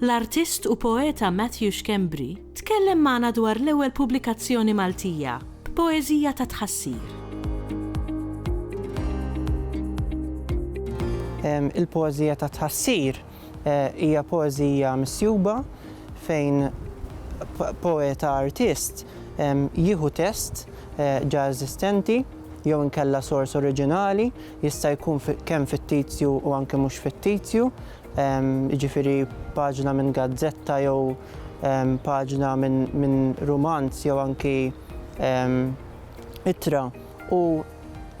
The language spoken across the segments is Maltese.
L-artist u poeta Matthew Schembri tkellem magħna dwar l-ewwel pubblikazzjoni Maltija b'poeżija ta' tħassir. Il-poeżija ta' tħassir eh, hija poeżija misjuba fejn poeta artist jieħu test eh, ġa eżistenti jew inkella sors oriġinali jista' jkun kemm fittizju u anke mhux fittizju jiġifieri paġna minn gazzetta jew paġna minn rumanz jew anki ittra u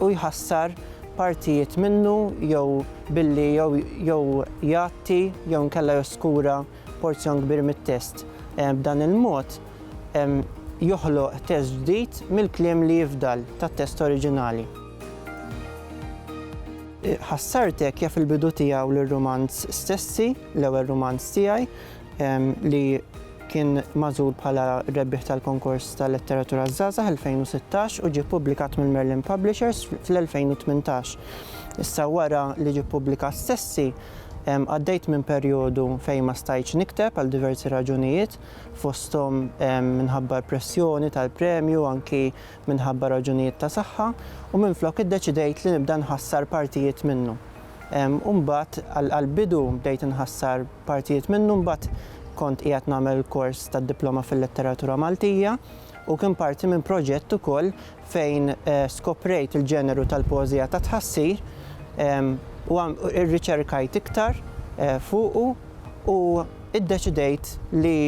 jħassar partijiet minnu jew billi jew jgħatti jew inkella joskura porzjon kbir mit-test. B'dan il-mod joħloq test ġdid mill-kliem li jifdal tat-test oriġinali. Ħassartek jaf il-bidu tiegħu lir-rumanz stessi, l-ewwel rumanz tiegħi, li kien magħżul bħala r-rebbieħ tal-Konkors tal-Letteratura għaż-Żgħażagħ 2016 u ġie ppubblikat mill-Merlin Publishers fl-2018. Issa wara li ġie ppubblikat stessi, għaddejt minn perjodu fejn ma stajtx nikteb għal diversi raġunijiet, fosthom minħabba l-pressjoni tal-premju, anki minħabba raġunijiet ta' saħħa u minflok iddeċidejt li nibda nħassar partijiet minnu. U mbagħad għall-bidu bdejt inħassar partijiet minnu mbagħad kont qiegħed nagħmel kors tad-diploma fil-letteratura Maltija u kien parti minn proġett ukoll fejn skoprejt il-ġeneru tal-poeżija ta' tħassir u irriċerkajt iktar fuqu u iddeċidejt li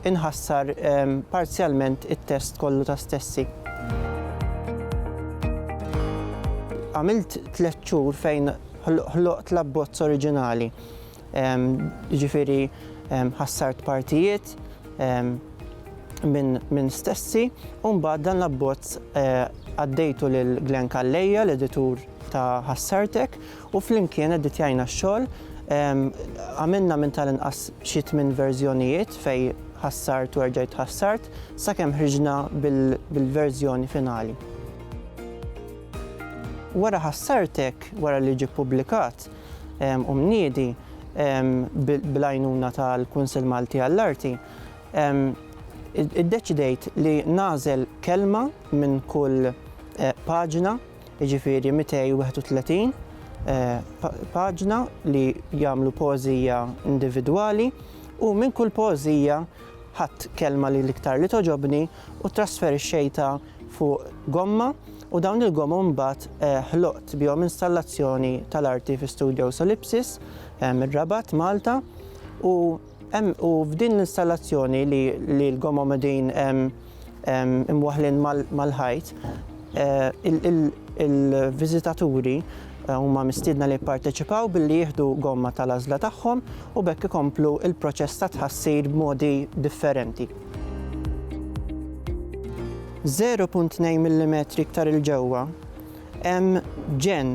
Inħassar parzjalment it-test kollu ta' stessi. Għamilt tliet xhur fejn ħloqt l-abbozz oriġinali. Jiġifieri ħassart partijiet minn stessi u mbagħad dan l-abbozz għaddejtu lil Glenn Calleja, l-editur ta' Ħassartek, U flimkien edditjajna x-xogħol, għamilna minn tal-inqas xi tmien verżjonijiet fejn ħassart u erġajt ħassart, sakemm ħriġna bil-verżjoni finali. Wara ħassartek, wara li ġie ppubblikat u mniedi bl-għajnuna tal-Kunsill Malti għall-Arti, iddeċidejt li nagħżel kelma minn kull paġna jiġifieri 231 paġna li jagħmlu poeżija individwali u minn kull poeżija ħadt kelma li l-iktar li toġobni u trasferixxejtha fuq gomma u dawn il-gomma mbagħad eh, ħloqt bihom installazzjoni tal-arti fi Studio Solipsis eh, mir-Rabat, Malta u Hemm u f'din l-installazzjoni li li l-gomom qegħdin imwaħħlin mal-ħajt, il-viżitaturi huma mistiedna li jipparteċipaw billi jieħdu gomma tal-għażla tagħhom u b'hekk ikomplu l-proċess ta' tħassir b'modi differenti. 0.2 millimetri iktar 'il ġewwa hemm ġenn